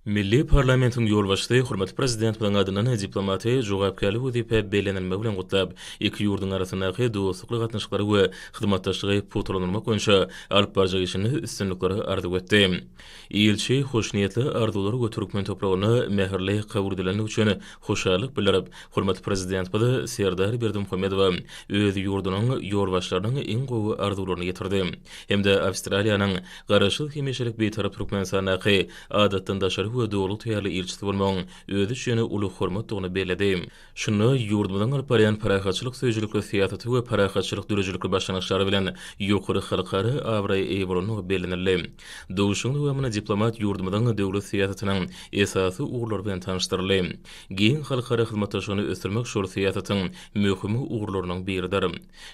Milli parlamentiň ýolbaşçysy hormatly Prezidentimiziň adyndan diplomaty jogapkärli wezipä bellenilmegi bilen gutlap, iki ýurduň arasyndaky dostlukly gatnaşyklary we hyzmatdaşlygy pugtalandyrmak boýunça alyp barjak işinde üstünlikleri arzuw etdi. Ilçi hoşniýetli arzuwlary we türkmen topragyna mähirli kabul edilendigi üçin hoşallyk bildirip, hormatly Prezidentimiz Serdar Berdimuhamedowa öz ýurdunyň ýolbaşçylarynyň iň gowy arzuwlaryny ýetirdi hem-de Awstraliýanyň Garaşsyz, hemişelik Bitarap Türkmenistandaky Adatdan daşary we Doly taýýarly ilçisi bolmagyň özi üçin uly hormatdygyny belledi. Şunda ýurdumyzyň alyp barýan parahatçylyk söýüjilikli syýasaty we parahatçylyk döredijilikli başlangyçlary bilen ýokary halkara abraýa eýe bolandygy bellenildi. Duşuşygyň dowamynda diplomat ýurdumyzyň döwlet syýasatynyň esasy ugurlary bilen tanyşdyryldy. Giň halkara hyzmatdaşlygyny ösdürmek şol syýasatyň möhüm ugurlarynyň biridir.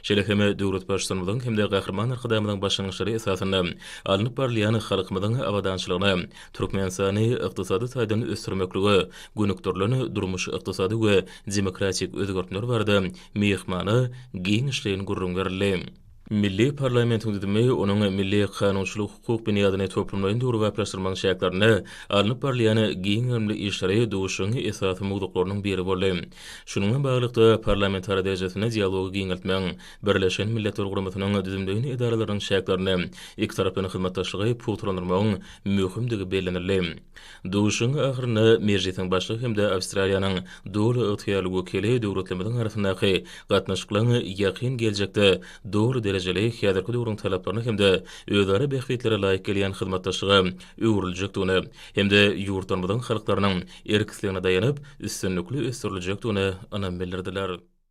Şeýle hem döwlet Baştutanymyzyň hem-de Gahryman Arkadagymyzyň başlangyçlary esasynda alnyp barylýan halkymyzyň abadançylygyna, Türkmenistany ykdysady taýdan ösdürmeklige gönükdirilen durmuş-ykdysady we demokratik özgertmeler barada myhmana giňişleýin gürrüň berildi. Milli parlamentiň düzümi onuň milli kanunçylyk-hukuk binýadyny toplumlaýyn döwrebaplaşdyrmagyň çäklerinde alnyp barylýan giň gerimli işleri duşuşygyň esasy mowzuklarynyň biri boldy. Şunuň bilen baglylykda, parlamentara derejesinde dialogy giňeltmegiň, Birleşen Milletler Guramasynyň düzümleýin edaralarynyň çäklerinde ikitaraplaýyn hyzmatdaşlygy pugtalandyrmagyň möhümdigi bellenildi. Duşuşygyň ahyrynda Mejlisiň Başlygy hem-de Awstraliýanyň doly ygtyýarly wekili döwletlerimiziň arasyndaky gatnaşyklaryň ýakyn geljekde doly derejeli, häzirki döwrüň talaplaryna hem-de özara bähbitlere laýyk gelýän hyzmatdaşlyga öwrüljekdigine hem-de ýurtlarymyzyň halklarynyň erk islegine daýanyp, üstünlikli ösdüriljekdigine ynam bildirdiler.